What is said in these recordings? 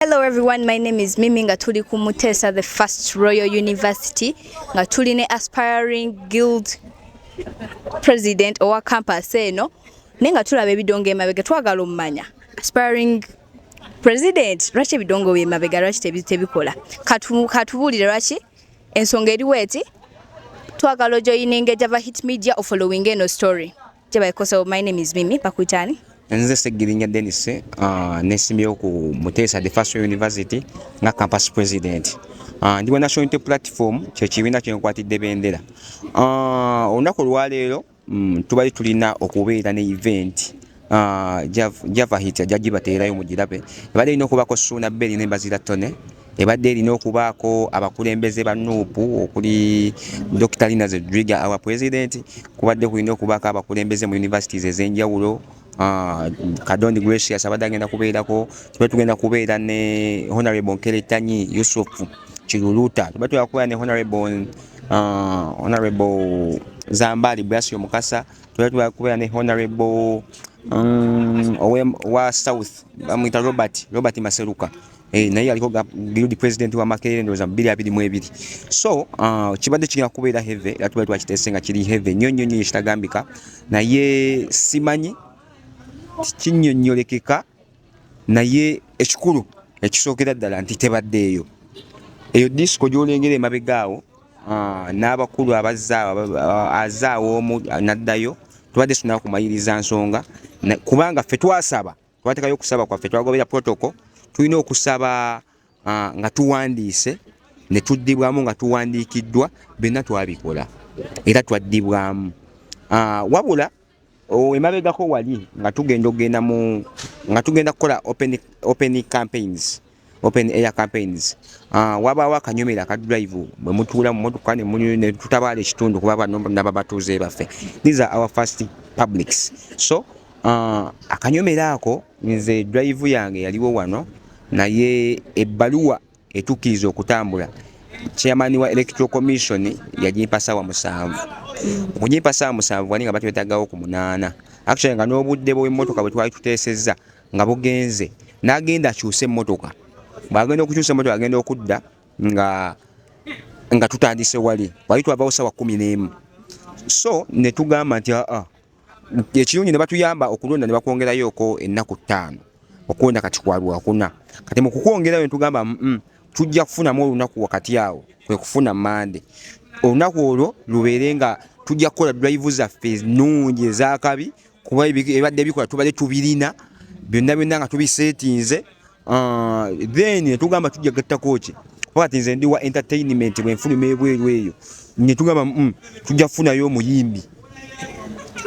Hello everyone, my name is Mimi nga tuli ku Mutesa the first Royal University nga tuli ne aspiring guild president owa campus eno naye nga tulaba ebidongo emabega twagala omumanya aspiring president lwaki ebidongo byemabega lwaki tebikola katubuulire lwaki ensonga eriwo eti twagala ojoyininga ejava hit media ofollowing eno story Kyebaikoso, my name is Mimi Pakutani. Nze Segirinya Dennis, uh, nesimyewo ku Muteesa the First University nga campus president. Uh, ndi wa National Unity Platform kye kibiina kye nkwatidde bendera. Uh, olunaku olwaleero mm, tubali tulina okubeera ne event uh, Java Hit jagibateerayo mugirabe. Ebadde erina okubaako Suuna Beri ne Bazira Tone. ebadde erina okubaako abakulembeze ba nup okuli dr lina zedriga awa president kubadde kulina okubaako abakulembeze mu universities ez'enjawulo Ah, kadondi gracious abadde agenda kubeerako tuba tugenda kubeera ne honorable nkeretanyi yusuf kiruluta tuba tugenda kubeera ne honorable ah, honorable zambali brasio mukasa tuba tugenda kubeera ne honorable mm, wa south bamwita robert robert maseruka Hey, eh, naye yaliko guild president wa makerere ndoza bili abili mwebili so uh, kibadde kigenda kubeera heavy era tubadde twakiteese nga kiri heavy nnyo nnyo nnyo ekitagambika naye simanyi kinyonyolekeka naye ekikulu ekisookera ddala nti tebaddeeyo eyo disco gyolengera emabega awo uh, n'abakulu abazaawo omu naddayo tubadde tunakumayiriza nsonga kubanga ffe twasaba twatekayo okusaba kwaffe twagobera protocol tulina okusaba uh, nga tuwandiise ne tuddibwamu nga tuwandiikiddwa byonna twabikola era twaddibwamu uh, wabula oh, emabegako wali nga tugenda okugenda mu nga tugenda kukola open, open campaigns open air campaigns ah, wabaawo akanyumira aka drive bwe mutuula mu motoka ne tutabaala ekitundu kuba bano naba batuuze baffe these are our first publics so ah, akanyumira ako nze drive yange yaliwo wano naye ebbaluwa etukkiriza okutambula chairman wa electoral commission yagimpa saawa musanvu okugimpa saawa musanvu wali nga batwetagawo ku munaana actually nga n'obudde bw'emmotoka bwe twali tuteesezza nga bugenze n'agenda akyuse emmotoka bw'agenda okukyusa emmotoka agenda okudda nga nga tutandise wali wali twavawo sawa kumi n'emu so ne tugamba nti aa ekirungi ne batuyamba okulonda ne bakwongerayoko ennaku ttaano okulonda kati kwa lwakuna kati mu kukwongerayo ne tugamba tujja kufunamu olunaku wakati awo kwe kufuna mande olunaku olwo lubeere nga tujja kukola drive zaffe ennungi ezakabi kuba ebadde bikola tubadde tubirina byonna byonna nga tubisetinze ah, then netugamba tujja gattako ki kuba kati nze ndi wa entertainment bwenfuluma ebweru eyo netugamba mm, tujja kufunayo omuyimbi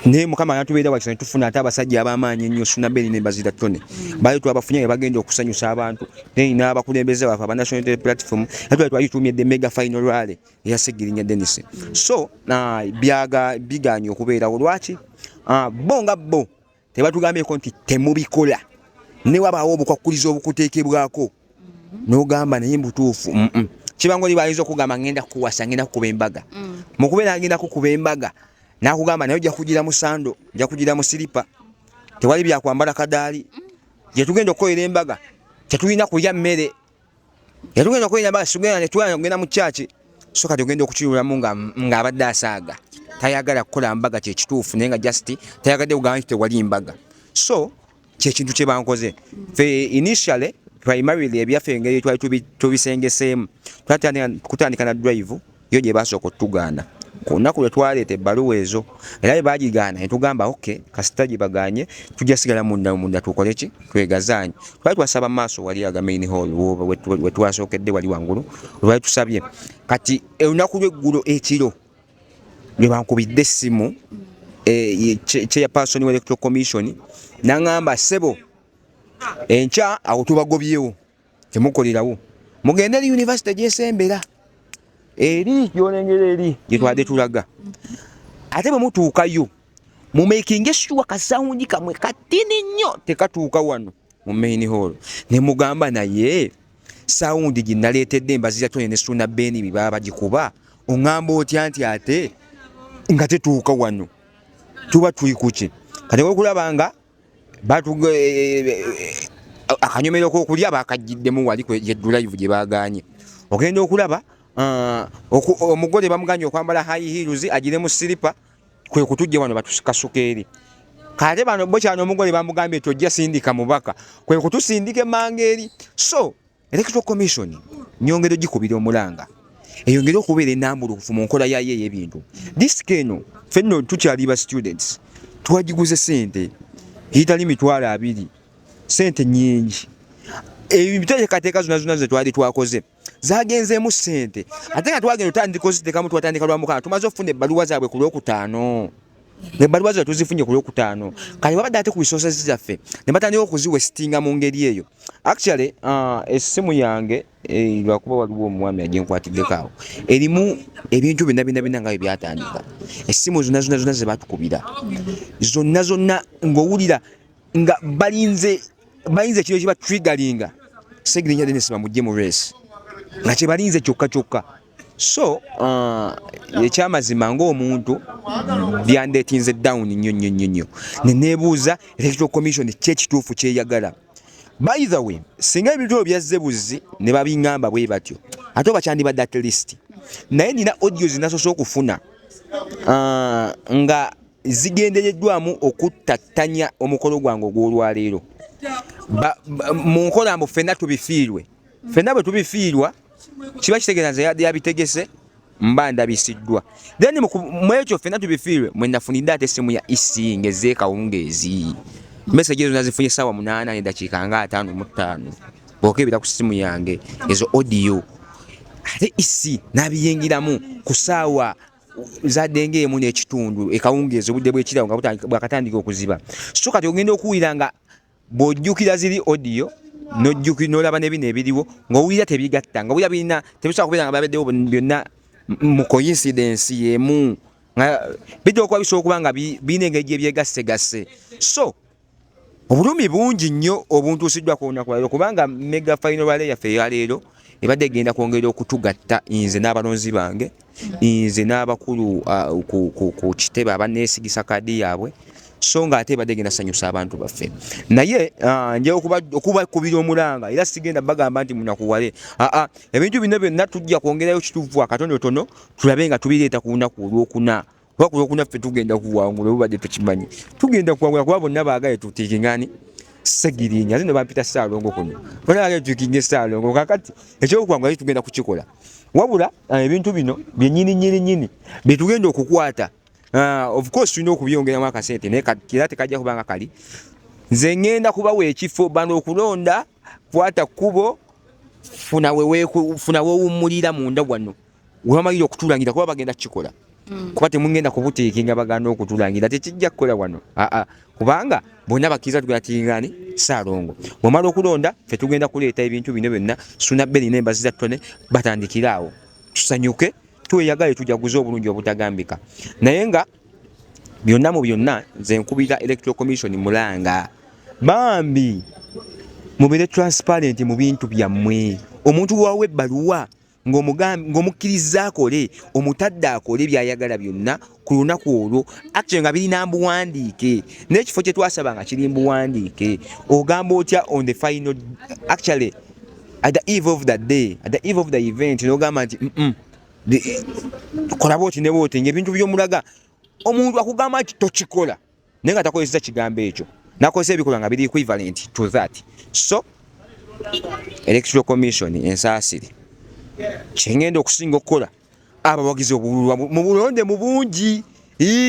naye mukama anatubeera wakisa netufuna ate abasajja abamaanyi ennyo sunaberi ne bazira tone bali twabafunye nga bagenda okusanyusa abantu then n'abakulembeze bafe aba national platform ate twali twali tuumye the mega final rally eya segirinya denis so byaga biganye okubeerawo lwaki ah, bo nga bo tebatugambyeko nti temubikola newabaawo obukwakkuliza obukuteekebwako nogamba naye mbutuufu kibangoli bayinza okugamba ngenda kukuwasa ngenda kukuba embaga mm. mukubeera agenda kukuba embaga nakugamba naye ojja kugira musando ojja kugira musiripa tewali byakwambala kadaali gyetugenda okukolera embaga tetulina kulya mmere yatugenda okwenda basi tugenda netwala kugenda mu kyaki so kati ogenda okukiwulamu ng'abadde asaaga tayagala kukola mbaga kyekituufu naye nga just tayagadde kugamba nti tewali mbaga so kyekintu kyebankoze fe initially primarily ebyaffe engeri twali tubisengeseemu twatandika na drive yo gye baasooka otugaana ku lunaku lwe twaleeta ebbaluwa ezo era bwe baagigaana ne tugamba oke kasita gye bagaanye tujja sigala munda munda tukole ki twegazaanye twali twasaba maaso wali aga main hall we twasookedde wali wangulu lwali tusabye kati olunaku lw'eggulo ekiro lwe bankubidde essimu eh, chairperson wa electoral commission n'aŋamba ssebo enkya awo tubagobyewo temukolerawo mugende eri yunivasite gyesembera eri gyolengera eri gyetwade tulaga ate bwe mutuukayo mumakinge shuwa kasawundi kamwe katini nnyo tekatuuka wano mu main hall ne mugamba naye sawundi gye naleetedde mbazira tone ne suna beeni bye baba bagikuba oŋŋamba otya nti ate nga tetuuka wano tuba tuli kuki kati okulaba nga akanyomero kokulya bakajjiddemu wali kwejeddulayivu gye baganye ogenda okulaba uh, omugole bamuganye okwambala high heels agire mu silipa kwe kutujje wano batusukasuka eri kale bano bo kyano omugole bamugambye tojja sindika mubaka kwe kutusindike manga eri so Electoral Commission nyongera ogikubira omulanga eyongere okubeera enambulukufu mu nkola yaayo ey'ebintu. Disiki eno fenno tukyali ba students twagiguze sente eyitali mitwalo abiri, sente nyingi. Ebiteekateeka zonna zonna ze twali twakoze zagenzeemu sente ate nga twagenda otandika oziteekamu twatandika lwa mukana tumaze okufuna ebbaluwa zaabwe ku lwokutaano. ebbaluwa zino tuzifunye ku lwokutaano kati babadde ate ku resources zaffe ne batandika okuziwa esitinga mu ngeri eyo actually uh, essimu yange eh, lwakuba waliwo omuwami agenkwatiddeko awo erimu ebintu byonna byonna byonna nga bye byatandika essimu zonna zonna zonna ze batukubira zonna zonna ng'owulira nga balinze balinze ekiro kiba trigalinga segirinya denesi bamugye mu resi nga kyebalinze kyokka kyokka so uh, ekyamazima ngaomuntu byandetinze down nyo nyo nyo nyo nenebuuza electoral commission kyekituufu kyeyagala by the way singa ebintu ebyo byazze buzzi ne babingamba bwe batyo ate oba kyandibadde at least naye nina audio zinasoose okufuna uh, nga zigendereddwamu okuttattanya omukolo gwange ogw'olwaleero mu nkola mbu ffenna tubifiirwe ffenna bwe tubifiirwa mm. kiba kitegeeza nze yabitegese mba ndabisiddwa then mwekyo fena tubifiirwe mwe nafunidde ate essimu ya isi ngeze kawungeezi message ezo nazifunye essaawa munaana nedakiika nga ataano mu ttaano bwokebera ku ssimu yange ezo audio ate isi nabiyingiramu ku ssaawa zadde ngaemu n'ekitundu ekawungeezi obudde bwekirawo nga bwakatandika okuziba so kati ogenda okuwulira nga bw'ojjukira ziri odiyo nojjuki nolaba nebino ebiriwo ngaowulira tebigatta nga owulira birina tebisobola kubeera nga babaddewo byonna mu coincidence yemu nga bijja okuba bisobola okuba nga birina engeri gyebyegassegasse so obulumi bungi nnyo obuntuusiddwa ku lunaku lwaleero kubanga mega final rale yaffe eyaleero ebadde egenda kwongera okutugatta nze n'abalonzi bange nze n'abakulu ku kitebe abaneesigisa kaadi yaabwe so nga ate ebadde genda sanyusa abantu baffe naye ah, nja okubakubira omulanga era sigenda bagamba nti munakuwale aa ah, ah, ebintu bino byonna tujja kwongerayo kituvu akatonotono tulabe nga tubireeta ku lunaku olwokuna kuba kuno kunaffe tugenda kuwangula obubadde tukimanyi tugenda kuwangula kuba bonna baagale tutiikingani segirinya ate nebampita saalongo kuno bona baagale tuikinge saalongo kakati ekyokuwangula tugenda kukikola wabula eh, ebintu bino byenyini nyini nyini byetugenda okukwata ah, of course tulina okubyongeramu akasente naye era tekajja kubanga kali nze ngenda kubawa ekifo bano okulonda kwata kkubo funa wewummulira munda wano webamalira okutulangira kuba bagenda kukikola mm. kuba temugenda kubuteeke nga bagana okutulangira tekijja kukola wano aa kubanga bonna bakkiriza tugenda tiringani saalongo bwemala okulonda fe tugenda kuleeta ebintu bino byonna suna beri nembazi za tone batandikire awo tusanyuke tweyagale tujaguze obulungi obutagambika naye nga byonna mu byonna nze nkubira electoral commission mulanga bambi mubere transparent mu bintu byammwe omuntu wawo ebbaluwa ng'omukkirizza akole omutadde akole byayagala byonna ku lunaku olwo actually nga birina mbuwandiike n'ekifo kye twasaba nga kiri mbuwandiike ogamba otya on the final actually at the eve of the day at the eve of the event n'ogamba nti kola bwoti ne bwoti ng'ebintu by'omulaga omuntu akugamba nti tokikola naye nga takozeseza kigambo ekyo nakozesa ebikolwa nga biri equivalent to that so electoral commission ensaasire kyengenda okusinga okukola abawagizi obululwa mu bulonde mu bungi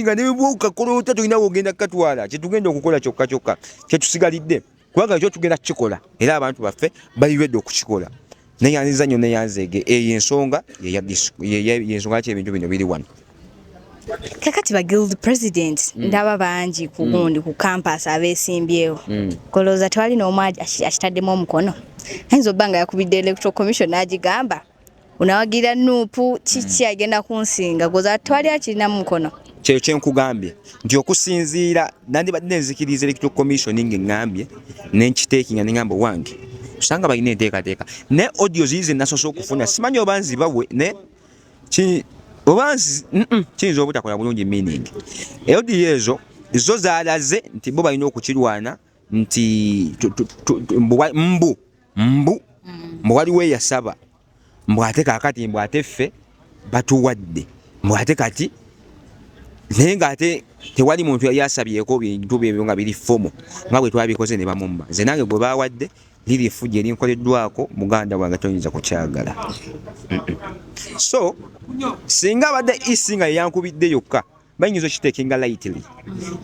nga nebwokakoloota tulina wogenda kukatwala kyetugenda okukola kyokka kyokka kyetusigalidde kubanga ekyo tugenda kukikola era abantu baffe bali ready okukikola neyanziza nnyo neyanzeege eyo ensonga yensonga laki ebintu bino biri wano kakati ba guild president mm. ndaba bangi ku mm. gundi mm. ku campus abesimbyewo mm. kolowooza tewali n'omu akitaddemu omukono ayinza obba nga yakubidde electoral commission n'agigamba unawagira nupu kiki mm. agenda kunsinga goza twali akirina mukono kyeyo kyenkugambye nti okusinziira nandibadde nenzikiriza electoral commission ngengambye nenkiteekinga nengamba owange osanga balina enteekateeka ne audio ziize nasoose okufuna simanyi oba nzibawe ne oba kiyinza obutakola bulungi meaning audio ezo zo zalaze nti bo balina okukirwana nti mbu mbu mm. mbu waliwo eyasaba mbu ate kakati mbu ate ffe batuwadde mbu ate kati naye ngaate tewali muntu yali asabyeko bintu byebyo nga biri fomu nga bwe twabikoze ne bamumma nze nange gwe bawadde liri efujja erinkoleddwako muganda wange toyinza kukyagala so singa abadde isi nga yeyankubidde yokka bayinza okitekinga lightly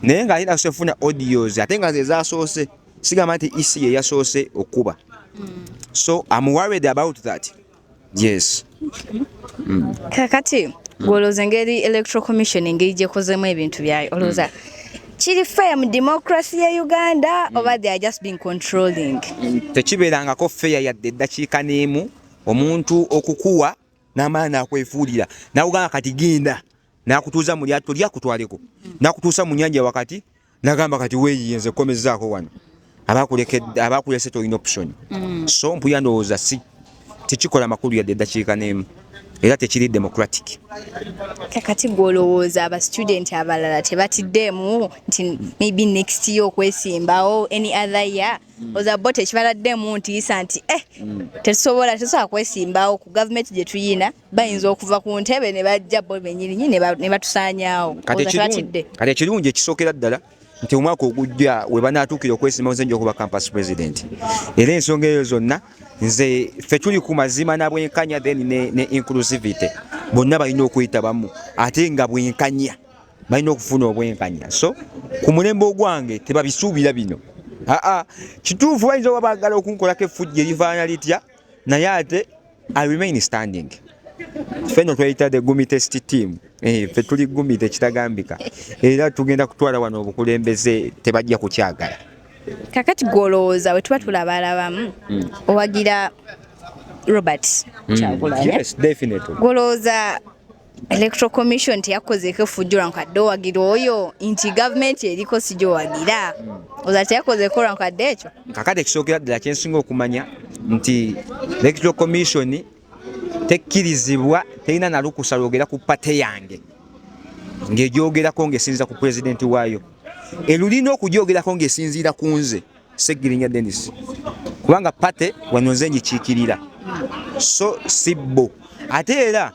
naye nga alina sefuna audios ate nga zezasoose sigamba nti ec yeyasoose okukuba so am worried about that yes mm. kakati gwolooza engeri electoral commission engeri gyekozemu ebintu byayo olowooza mm. kiri fair mu democracy ya Uganda mm. oba they are just being controlling tekibeerangako fair yadde eddakiika n'emu omuntu okukuwa n'amaana akwefuulira nawe ogamba kati genda nakutuuza mu lyatto lyakutwaleko nakutuusa mu nyanja wakati nagamba kati weeyiye nze kukomezaako wano abakulese tolina option mm. so mpuya ndowooza si tekikola makulu yadde eddakiika n'emu era tekiri democratic kakati gwe olowooza aba student abalala tebatiddeemu nti maybe next year okwesimbawo any other year mm. oza bo tekibaladdemu ntiisa nti eh mm. tetusobola tetusobola kwesimbawo ku gavumenti gye tuyina bayinza okuva ku ntebe ne bajja bo benyirinyi ne batusaanyaawo kati ekirungi ekisookera ddala nti omwaka ogujja we banaatuukira okwesimbawo nze nja okuba campus president era ensonga eyo zonna nze ffe tuli ku mazima na bwenkanya then ne, ne inclusivity bonna balina okuyitabamu ate nga bwenkanya balina okufuna obwenkanya so ku mulembe ogwange tebabisuubira bino aa kituufu bayinza oba baagala okunkolako effujja erivaana litya naye ate i remain standing feno tweyita the gumi test team eh, fe tuli gumi tekitagambika era tugenda kutwala wano obukulembeze tebajja kukyagala kakati gwolowooza wetuba tulabalabamu mm. owagira robert mm. kyakulanyagwolowooza Electoral Commission teyakozeeko effujjo lwa nkadde owagira oyo nti gavumenti eriko si gyowagira hmm. oza teyakozeeko lwa nkadde ekyo kakati ekisookera ddala kyensinga okumanya nti Electoral Commission tekkirizibwa terina nalukusa lwogera ku pate yange ng'egyogerako ng'esinziira ku pulezidenti waayo elulina okugyogerako ng'esinziira ku nze Ssegirinya Denis kubanga pate wano nze ngikiikirira so si bo ate era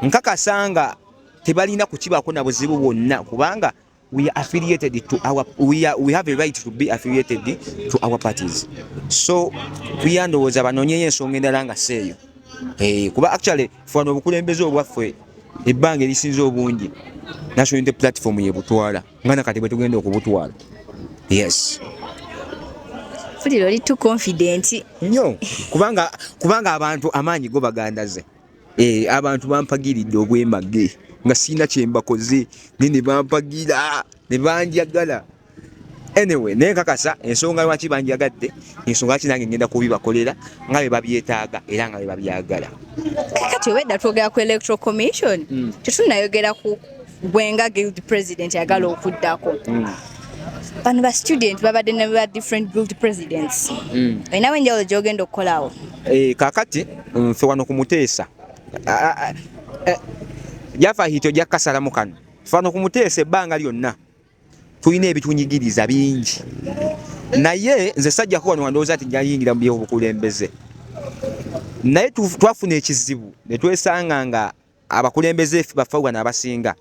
nkakasa nga tebalina kukibaako na buzibu bwonna kubanga we are affiliated to our we are we have a right to be affiliated to our parties so kuyandowooza banonyeyo ensonga endala nga seeyo eh, kuba actually fwana obukulembeze obwaffe ebbanga erisinza obungi national unity platform yebutwala nga nakati bwe tugenda okubutwala yes fulira oli too confident nyo kubanga kubanga abantu amaanyi go bagandaze eh abantu bampagiridde obwemage nga sina kyembakoze ne ne bampagira ne banjagala anyway naye kakasa ensonga lwaki banjagadde ensonga ki nange ngenda kubibakolera nga bye babyetaaga era nga bye babyagala kati obedda twogera ku electoral commission mm. tetunayogera ku gwe nga guild president agala okuddako mm. bano ba student babadde ne ba different guild presidents mm. olinawo enjawulo gyogenda okukolawo eh, kakati nfe wano ku muteesa eh, jafa hito jakasalamu kano fano ku muteesa ebbanga lyonna tulina ebitunyigiriza bingi naye nze sajjako wano wandowooza ti jayingira mu byobukulembeze naye twafuna ekizibu netwesanga nga abakulembeze baffe Uganda abasinga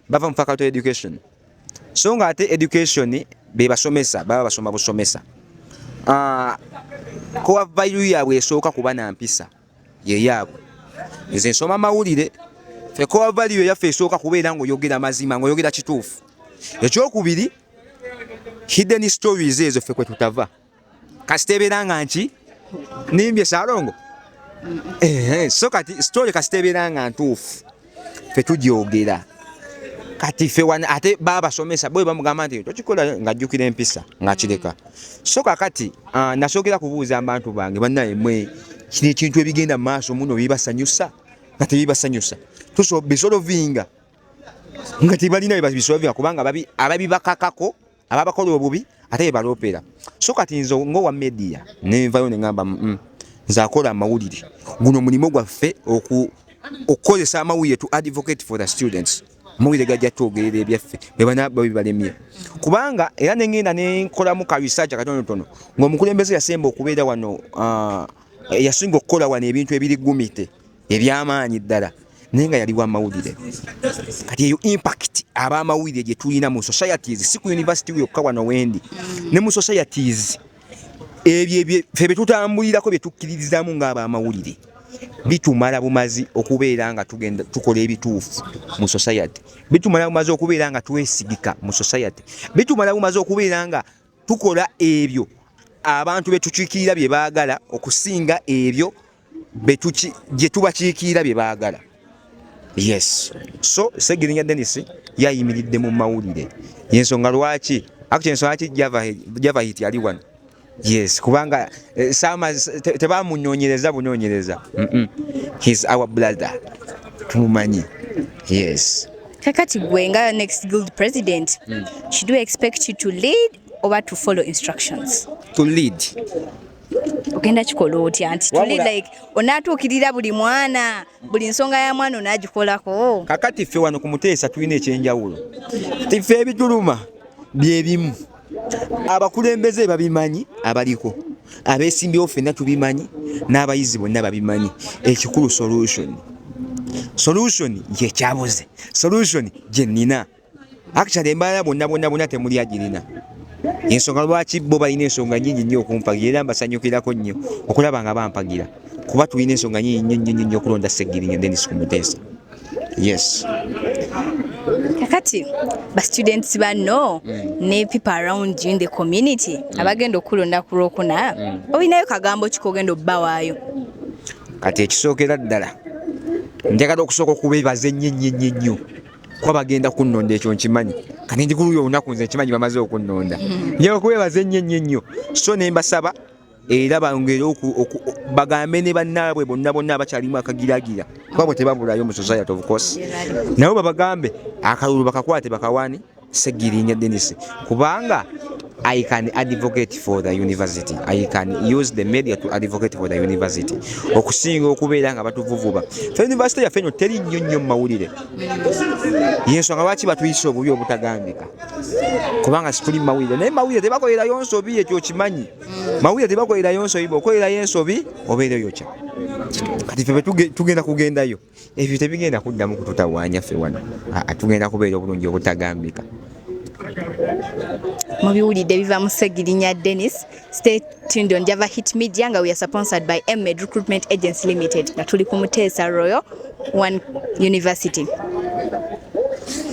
bava mu faculty education so nga ate education bebasomesa baba basoma busomesa ah, kowa value yaabwe esooka kuba na mpisa ye yaabwe nze nsoma mawulire fe kowa value yaffe esooka kubeera ngaoyogera mazima ngaoyogera kituufu ekyokubiri hidden stories ezo ffe kwetutava kasita ebeera nga nki nimbye salongo eh, so kati story kasita ebeera nga ntuufu fe tugyogera kati fe wani ate babasomesa bwe bamugamba nti tokikola ng'ajjukira empisa ng'akireka so kakati uh, nasookera kubuuza abantu bange bannaye mwe kino ekintu ebigenda mu maaso muno bibasanyusa nga tebibasanyusa tusobisolovinga nga tebalina bebabisolovinga kubanga ababibakakako ababakola obubi ate bebaloopera so kati nze ngaowa media nenvayo nengamba mm, mm, nze akola amawulire guno mulimu gwaffe okukozesa amawulire to advocate for the students amawulire gajja twogerera ebyaffe bebanababibalemye kubanga era nengenda nenkolamu ka research akatonotono ngaomukulembeze yasemba okubeera wano uh, yasinga okukola wano ebintu ebiri gumite ebyamaanyi ddala naye nga yali wamawulire kati eyo impact abamawulire gye tulina mu societies si ku university yokka wano wendi ne mu societies ebyo fe bye tutambulirako bye tukkiririzaamu ng'abamawulire bitumala bumazi okubeera nga tugenda tukola ebituufu mu society bitumala bumazi okubeera nga twesigika mu society bitumala bumazi okubeera nga tukola ebyo abantu betukiikirira bye baagala okusinga ebyo gye tubakiikiira bye baagala yes so segirinya denis yayimiridde mu mawulire yensonga lwaki akti ensonga ki java hit yali wano yes kubanga eh, sama tebamunyonyereza bunyonyereza his our brother tumumanyi yes kakati gwe nga next guild president mm. should we expect you to lead oba to follow instructions to lead ogenda kikola otya nti tuli like onatuukirira buli mwana buli nsonga ya mwana onagikolako kakati ffe wano ku muteesa tulina ekyenjawulo ffe ebituluma byebimu abakulembeze babimanyi abaliko abesimbyewo fenna tubimanyi n'abayizi bonna babimanyi ekikulu solution solution yekyabuze solution gyenina Actually embala bonna bonna bonna temuli agirina. Ensonga lwaki bo balina ensonga nyingi nnyo okumpagira era mbasanyukirako nnyo okulaba nga bampagira kuba tulina ensonga nyingi nnyo nnyo nnyo okulonda Ssegirinya Dennis Kumuteesa. Yes. Kakati ba students banno mm. ne people around you in the community mm. abagenda okulonda ku lwokuna mm. olinayo kagambo kikogenda obbawaayo. Kati ekisookera ddala njagala okusooka okubeebaza ennyo ennyo ennyo ennyo. kuba bagenda kunnonda ekyo nkimanyi kati ndi kuluyo olunaku nze nkimanyi bamaze okunnonda mm. nyewe kubebaza ennyo ennyo ennyo so ne mbasaba era bangere bagambe ne bannaabwe bonna bonna abakyalimu akagiragira kuba bwe tebabulayo mu society of course nabo babagambe akalulu bakakwate bakawaani Ssegirinya Denis kubanga I can advocate for the university. I can use the media to advocate for the university. Okusinga okubeera nga batuvuvuba. Fe university ya fenyo teri nnyo nnyo mawulire. Yesu nga lwaki batuyisa obubi obutagambika. Kubanga situli mawulire. Naye mawulire tebakolera yonso biye kyo kimanyi. Mawulire tebakolera yonso ibo. Okolera yenso bi obeere yocha. Kati fe tugenda kugendayo. ebyo tebigenda kuddamu kututawaanya ffe wano tugenda kubeera obulungi obutagambika mubiwulidde biva mu segirinya denis state tuned on java hit media nga we are sponsored by mmed recruitment agency limited nga tuli ku muteesa royal one university